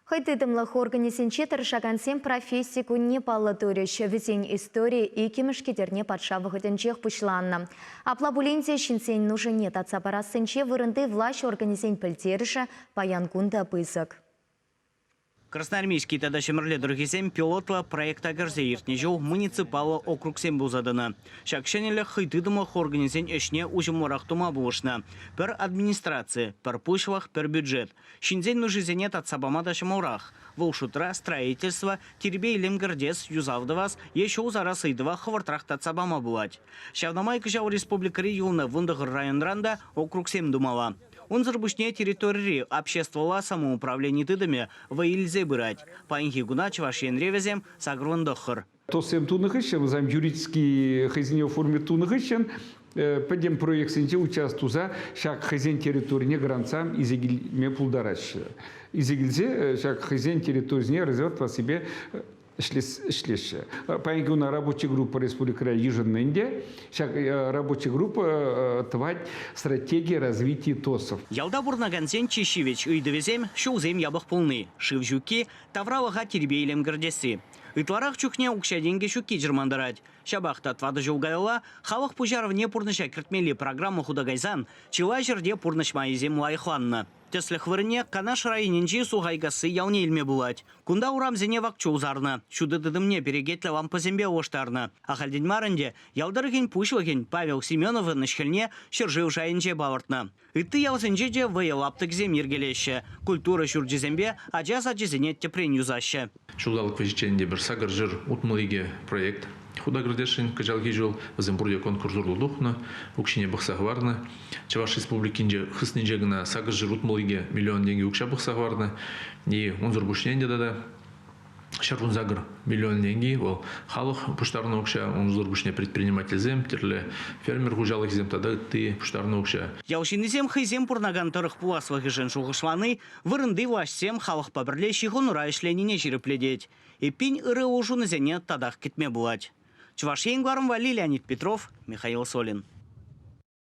Хӑй тытӑмлӑх органӗсенче тӑрӑшакансем професси кунне паллӑ турӗҫ. Вӗсен истори иккӗмӗш кӗтерне патша вӑхӑтӗнчех пуҫланнӑ. Апла пулин те ҫынсен нушине татса парассинче вырӑнти влаҫ органӗсен пӗлтерӗшӗ паян кун та пысӑк. Красноармейски тата Ҫӗмӗрле тӑрӑхӗсем пилотла проекта кӗрсе иртнӗ ҫул муниципаллӑ округсем пулса тӑнӑ. Ҫак ҫӗнӗлӗх хӑй тытӑмлӑх органӗсен ӗҫне уҫӑмлӑрах тума пулӑшнӑ. Пӗр администраци, пӗр пуҫлӑх, пӗр бюджет. Ҫынсен нушисене татса пама та ҫӑмӑлрах. Вӑл шутра строительство, тирпей-илем кӗртес, юсав тӑвас е ҫул сарас ыйтӑва хӑвӑртрах татса пама пулать. Ҫавна май кӑҫал республикӑри юлнӑ вунтӑхӑр районран та округсем тумалла. Унсӑр пуҫне территорири обществӑлла самоуправлени тытӑмӗ вӑй илсе пырать. Паянхи куна Чӑваш Енре вӗсем сакӑрвун тӑххӑр. ТОС-сем тунӑ хыҫҫӑн, вӗсем юридический хӑйсене оформи тунӑ хыҫҫӑн пӗтӗм проектсенче участвуя туса ҫак хӑйсен территорине грантса илсе килме пултараҫҫӗ. Илсе килсе ҫак хӑйсен территорисене резерв тӑвассипе ӗҫлеҫҫӗ. Паянхи кун рабочая группа республикӑра йышӑннӑ ӗнтӗ. Ҫак рабочая группа тӑвать стратегия развития ТОСов. Ялта пурӑнакансен чи ҫивӗч ыйтӑвӗсем, ҫулсем япӑх пулни, шыв ҫукки, тавралӑха тирпей-илем кӗртесси. Ытларах чухне укҫа-тенкӗ ҫукки чӑрмантарать. Ҫапах та тӑватӑ ҫул каялла халӑх пуҫарӑвне пурнӑҫа кӗртмелли программа хута кайсан чылай ҫӗрте пурнӑҫ майӗсем лайӑхланнӑ. Тӗслӗх вырӑнне Канаш районӗнчи Сухайкасси ялне илме пулать. Кунта урамсене вак чул сарнӑ, ҫутӑ тытӑмне перекетлӗ лампӑсемпе улӑштарнӑ. Ахальтен мар ӗнтӗ ял тӑрӑхӗн пуҫлӑхӗн Павел Семеновӑн ӗҫ-хӗлне ҫӗршыв шайӗнче палӑртнӑ. Ытти ялсенче те вӑйӑ лаптӑкӗсем йӗркелеҫҫӗ, культура ҫурчӗсемпе ача сачӗсене тӗпрен юсаҫҫӗ. Ҫулталӑк вӗҫӗччен те пӗр сакӑр ҫӗр утмӑл икӗ проект хута кӗртесшӗн. Кӑҫалхи ҫул вӗсем пурте конкурс урлӑ тухнӑ, укҫине пӑхса хӑварнӑ. Чӑваш Республикинче хыснинче кӑна сакӑр ҫӗр утмӑл икӗ миллион тенкӗ укҫа пӑхса хӑварнӑ-и, унсӑр пуҫне ӗнтӗ тата ҫӗр кун сакӑр миллион тенки вӑл халӑх пуҫтарнӑ укҫа унсӑр пуҫне предпринимательсем тӗрлӗ фермер хуҫалӑхӗсем тата ытти пуҫтарнӑ укҫа. Ял ҫыннисем хӑйсем пурӑнакан тӑрӑх пуласлӑхӗшӗн шухӑшлани вырӑнти влаҫсем халӑхпа пӗрле ҫыхӑнура ӗҫленине ҫирӗплетет. Эппин, ырӑ улшӑнусене татах кӗтме пулать. Чӑваш Ен кӑларӑмпа Лилия Петров, Михаил Солин.